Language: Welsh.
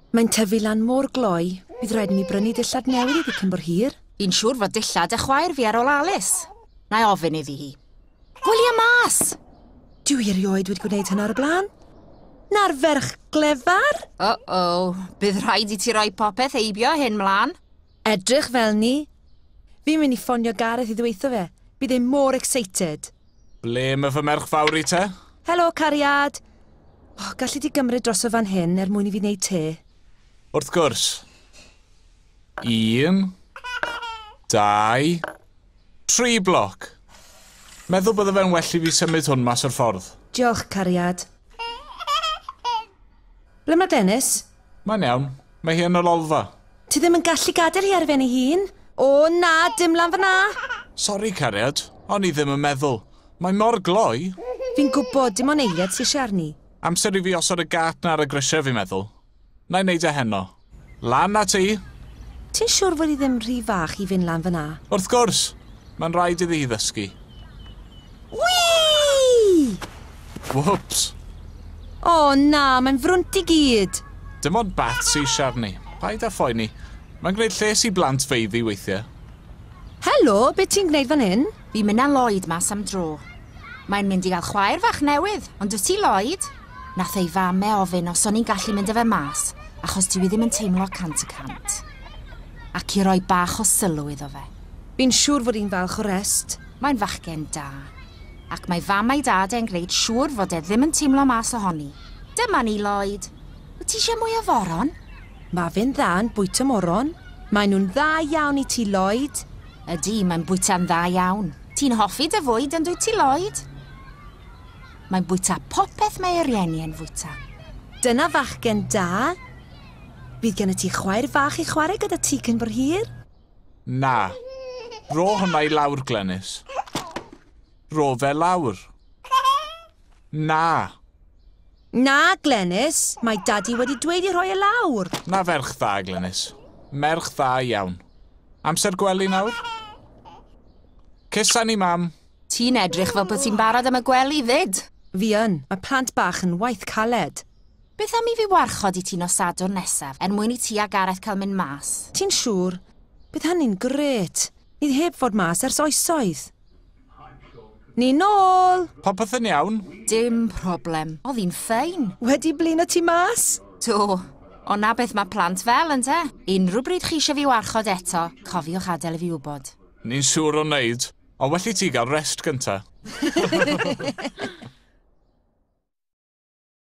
Mae'n tyfu lan mor gloi, bydd rhaid i mi brynu dillad newydd iddi cyn bo'r hir. Fi'n siŵr fod dillad a chwaer fi ar ôl Alice. Na i ofyn iddi hi. Gwylia mas! Dwi erioed wedi gwneud hynna ar y blaen. Na'r ferch glefar? Uh-oh, bydd rhaid i ti roi popeth heibio hyn mlaen. Edrych fel ni! Fi'n mynd i ffonio Gareth i ddweutho fe. Bydd e mor excited! Ble ma fy merch fawr i te? Helo, cariad! O, galli di gymryd droso fan hyn er mwyn i fi wneud te? Wrth gwrs. Un, dau, tri bloc. Meddwl bydde fe'n well i fi symud hwn mas o'r ffordd. Diolch, cariad. Ble mae Dennis? Mae'n iawn. Mae hi yn y lolfa. Ti ddim yn gallu gadael hi ar ben ei hun. O, na, dim lan fan'na! Sori, cariad. O'n i ddim yn meddwl. Mae mor gloi. Fi'n gwybod, dim ond eiliad sy isie arni. Amser i fi osod y gât 'na ar y grisiau, fi'n meddwl. Na i wneud e heno. Lan â ti! Ti'n siwr fod hi ddim rhy fach i fynd lan fan'na? Wrth gwrs! Mae'n rhaid iddi hi ddysgu. Whee! Whoops! O oh, na, mae'n frwnt i gyd. Dim ond bat sy'n siarni. Paid â phoeni. Mae'n gwneud lles i blant feiddi weithiau. Helo, beth ti'n gwneud fan hyn? Fi'n mynd â Lloyd mas am dro. Mae'n mynd i gael chwaer fach newydd, ond dwi ti Lloyd? Nath ei fame ofyn os o'n i'n gallu mynd â fe mas, achos dwi ddim yn teimlo cant y cant. Ac i roi bach o sylw iddo fe. Fi'n siŵr fod hi'n falch o rest. Mae'n fachgen da. Ac mae fam a'i dad e'n gwneud siŵr fod e ddim yn teimlo mas ohoni. Dyma ni, Lloyd. Wyt ti eisiau mwy o foron? Mae fe'n dda yn bwyta moron. Maen nhw'n dda iawn i ti, Lloyd. Ydy, mae'n bwyta'n dda iawn. Ti'n hoffi dy fwyd, yn dwyt ti, Lloyd? Mae'n bwyta popeth mae ei rieni e'n fwyta. Dyna fachgen da. Bydd gennyt ti chwaer fach i chwarae gyda ti cyn bo hir. Na. Ro hwnna i lawr, Glenys. Ro fe lawr. Na. Na, Glenys. Mae Daddy wedi dweud i rhoi e lawr. Na ferch dda, Glenys. Merch dda iawn. Amser gwely nawr? Cysan ni, mam. Ti'n edrych fel bod ti'n barod am y gwely fyd. Fi yn. Mae plant bach yn waith caled. Beth am i fi warchod i ti nos Sadwrn nesaf, er mwyn i ti a Gareth cael mynd mas? Ti'n siŵr? Bydd hynny'n grêt! Ni heb fod mas ers oesoedd. Ni nôl! Popeth yn iawn? Dim problem. Oedd hi'n ffein. Wedi blino ti mas? Do. Ond 'na beth mae plant fel, ynte? Unrhyw bryd chi eisiau fi warchod eto, cofiwch adael i fi wybod. Ni'n siŵr o wneud. Ond well i ti gael rest gynta.